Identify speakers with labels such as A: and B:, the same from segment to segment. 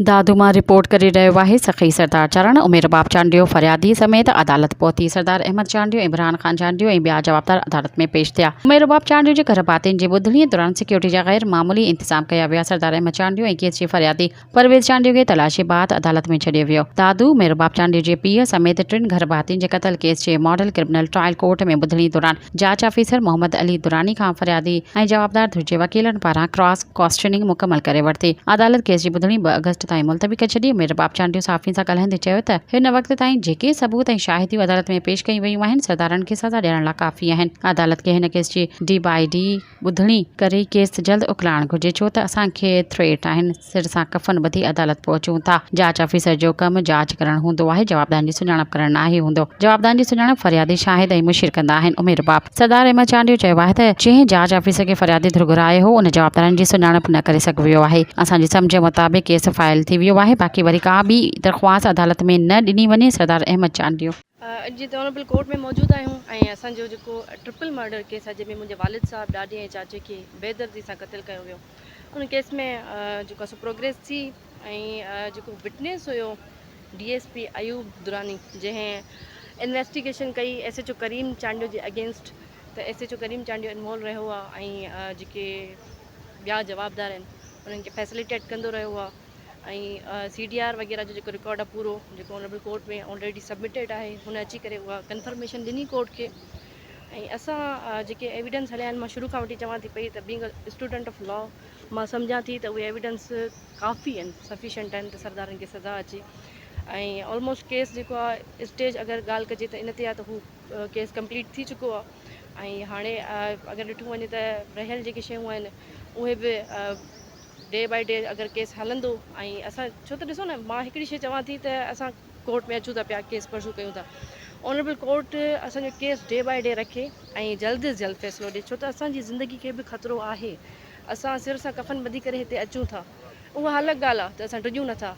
A: دادو مان رپورٽ ڪري رهيو آهي سخي سردار چرڻ ۽ عمير باب چانڊيو فريادي سميت عدالت پهتي سردار احمد چانڊيو ۽ عمران خان چانڊيو ۽ ٻيا جوابدار عدالت ۾ پيش ٿيا عمير باب چانڊيو جي گهر ڀاتين جي ٻڌڻي دوران سيڪيورٽي جا غير معمولي انتظام ڪيا ويا سردار احمد چانڊيو ۽ ڪيس جي فريادي پرويز چانڊيو کي تلاشي بعد عدالت ۾ ڇڏيو ويو دادو عمير باب چانڊيو جي پيء سميت ٽن گهر ڀاتين جي قتل ڪيس جي ماڊل ڪرمنل ٽرائل ڪورٽ ۾ ٻڌڻي دوران جاچ آفيسر محمد علي دراني کان فريادي ۽ جوابدار ڌر جي وڪيلن پاران ڪراس ڪوئسٽننگ مڪمل ڪري ورتي. عدالت ڪيس جي ٻڌڻي ٻه آگسٽ تائين ملتوي ڪري ڇڏي. مير رباب چانڊيو صحافين سان ڳالهائيندي چيو ته هن وقت تائين جيڪي ثبوت ۽ شاهديون عدالت ۾ پيش ڪيون ويون آهن، سردارن کي سزا ڏيڻ لاء ڪافي آهن. عدالت کي هن ڪيس جي ڊي باء ڊي. ٻڌڻي ڪري ڪيس جلد اڪلائڻ گهرجي ڇو ته اسان کي ٿريٽ آهن سر سان ڪفن ٻڌي عدالت پهچون ٿا جاچ آفيسر جو ڪم جاچ ڪرڻ هوندو آهي جوابدارن جي سڃاڻپ ڪرڻ ناهي هوندو جوابدارن جي سڃاڻپ فريادي شاهد ۽ مشير ڪندا آهن امير رباب سردار احمد چانڊيو چيو آهي ته جنهن جاچ آفيسر کي فريادي ڌر گهرايو هو ان جوابدارن جي سڃاڻپ نه ڪري سگهيو آهي اسان جي سمجهه مطابق ڪيس فائل ٿي ويو آهي باقي وري ڪا ٻي درخواست عدالت ۾ نه ڏني وڃي سردار احمد چانڊيو. اڄ جتي آنريبل
B: ڪورٽ ۾ موجود آهيون ۽ اسان جو جيڪو ٽرپل مرڊر ڪيس آهي جنهن ۾ منهنجي والد صاحب، ڏاڏي ۽ چاچي کي بي دردي سان قتل ڪيو ويو ان ڪيس ۾ جيڪو سو پروگريس ٿي ۽ جيڪو وٽنيس هيو D S P Ayub Durrani جنهن انويسٽيگيشن ڪئي S H O Karim Chandio جي اگينسٽ ته S H O Karim Chandio involve رهيو آهي ۽ جيڪي ٻيا جوابدار آهن انهن کي فيسليٽيٽ ڪندو رهيو آهي ۽ سي ڊي آر وغيره جو جيڪو رڪارڊ آ پورو جيڪو اونريبل ڪورٽ ۾ آلريڊي سبمٽيڊ آهي هن اچي ڪري اها ڪنفرميشن ڏني ڪورٽ کي ۽ اسان جيڪي ايويڊنس هليا آهن مان شروع کان وٺي چوان ٿي پئي ته بينگ اسٽوڊنٽ آف لا مان سمجهان ٿي ته اهي ايويڊنس ڪافي آهن سفيشنٽ آهن ته سردارن کي سزا اچي ۽ آلموسٽ ڪيس جيڪو آهي اسٽيج اگر ڳالهه ڪجي ته ان تي آهي ته هو ڪيس ڪمپليٽ ٿي چڪو آهي ۽ هاڻي اگر ڏٺو وڃي ته رهيل جيڪي شيون آهن اهي به ڊي بائي ڊي اگر ڪيس هلندو ۽ اسان ڇو ته ڏسو نه مان هڪڙي شي چوان ٿي ته اسان ڪورٽ ۾ اچون ٿا پيا ڪيس پرسو ڪيون ٿا آنريبل ڪورٽ اسان جو ڪيس ڊي بائي ڊي رکي ۽ جلد از جلد فيصلو ڏي ڇو ته اسان جي زندگي کي به خطرو آهي اسان سر سان ڪفن ٻڌي ڪري هتي اچون ٿا اها الڳ ڳالهه آهي ته اسان ڊڄون نه ٿا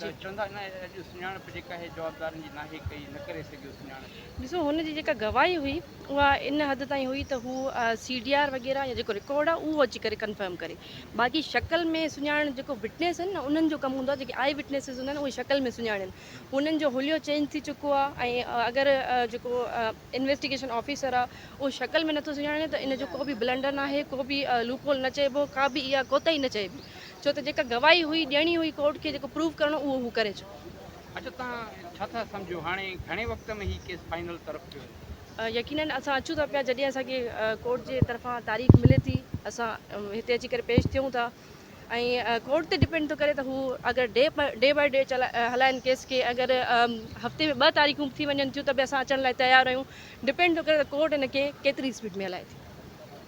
C: جي. چوندا نه اڄ سڃاڻپ جيڪا هي
B: جوابدارن جي ناهي ڪئي نه ڪري سگهيو سڃاڻپ. ڏسو هن جي جيڪا گواهي هئي اها ان حد تائين هئي ته هو سي ڊي آر وغيره يا جيڪو رڪارڊ آهي اهو اچي ڪري ڪنفرم ڪري باقي شڪل ۾ سڃاڻڻ جيڪو وٽنيس آهن نه انهن جو ڪم هوندو آهي جيڪي آئي وٽنيسز هوندا آهن اهي شڪل ۾ سڃاڻين انهن جو حليو چينج ٿي چڪو آهي ۽ اگر جيڪو انويسٽيگيشن آفيسر آ اهو شڪل ۾ نٿو سڃاڻي ته ان جو ڪو به بلنڊر ناهي ڪو به لوپ هول نه چئبو ڪا به اها ڪوتاهي نه چئبي ڇو ته جيڪا گواهي هئي ڏيڻي هئي ڪورٽ کي جيڪو پروف ڪرڻو اهو هو ڪري چڪو. اچو تان
C: ڇا ٿا سمجهو هاڻي گهڻي وقت ۾ هي ڪيس فائنل طرف پيو وڃي؟ يقينن اسان
B: اچون ٿا پيا جڏهن اسان کي ڪورٽ جي طرفان تاريخ ملي ٿي اسان هتي اچي ڪري پيش ٿيون ٿا. ۽ ڪورٽ تي ڊپينڊ ٿو ڪري ته هو اگر ڊي ڊي بائي ڊي هلائن ڪيس کي اگر هفتي ۾ ٻه تاريخون به ٿي وڃن ٿيون ته به اسان اچڻ لاء تيار آهيون ڊپينڊ ٿو ڪري ته ڪورٽ هن کي ڪيتري اسپيڊ ۾ هلائي ٿي.